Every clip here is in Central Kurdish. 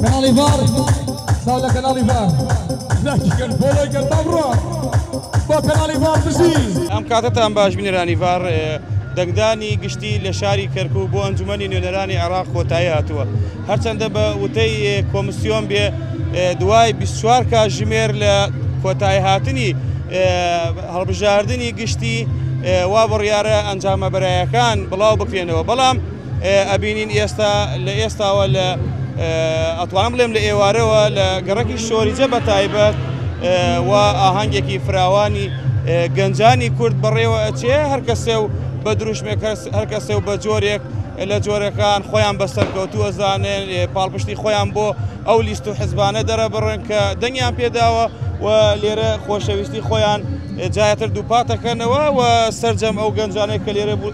کەناڵی ڤار ساو لە کەناڵی ڤار لاکی کەن فۆلۆی کەن با بڕۆ بۆ کەناڵی ڤار بژی ئەم کاتەتان باش بینەرانی ڤار دەنگدانی گشتی لە شاری کەرکوو بۆ ئەنجومەنی نوێنەرانی عێراق کۆتایی هاتووە هەرچەندە بە وتەی کۆمسیۆن بێ دوای 24 کاژمێر لە کۆتایی هاتنی هەڵبژاردننی گشتی وا بڕیاە ئەنجامە بەرایەکان بڵاو بکرێنەوە بەڵام ئەبینین ئێستا لە ئێستاوە لە ئەتوانم بڵێم لە ئێوارەوە لە گەڕەکی شۆریجە بە تایبەت و ئاهەنگێکی فراوانی گەنجانی کورد بەڕێوە ئەچێ هەر کەسێ و بە دروشمێک هەر کەسێ و بە جۆرێک لە جۆرەکان خۆیان بەسەر کەوتووە زانێن پاڵپشتی خۆیان بۆ ئەو لیست و حزبانە دەرەبڕن کە دەنگیان پێداوە و لێرە خۆشەویستی خۆیان جاتر دووپاتەکەنەوە و سرجەم ئەو گەنجانێک کە لێرە بوو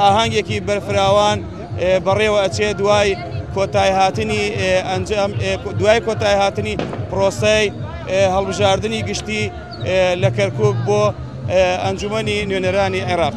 ئاهەنگێکی بەرفراوان بەڕێوە ئەچێ دوای کۆتای هاتنی ئەنجام دوای کۆتای هاتنی پرۆسەی هەڵبژاردننی گشتی لە کەرکک بۆ ئەنجومی نوێنەرانی عێراق.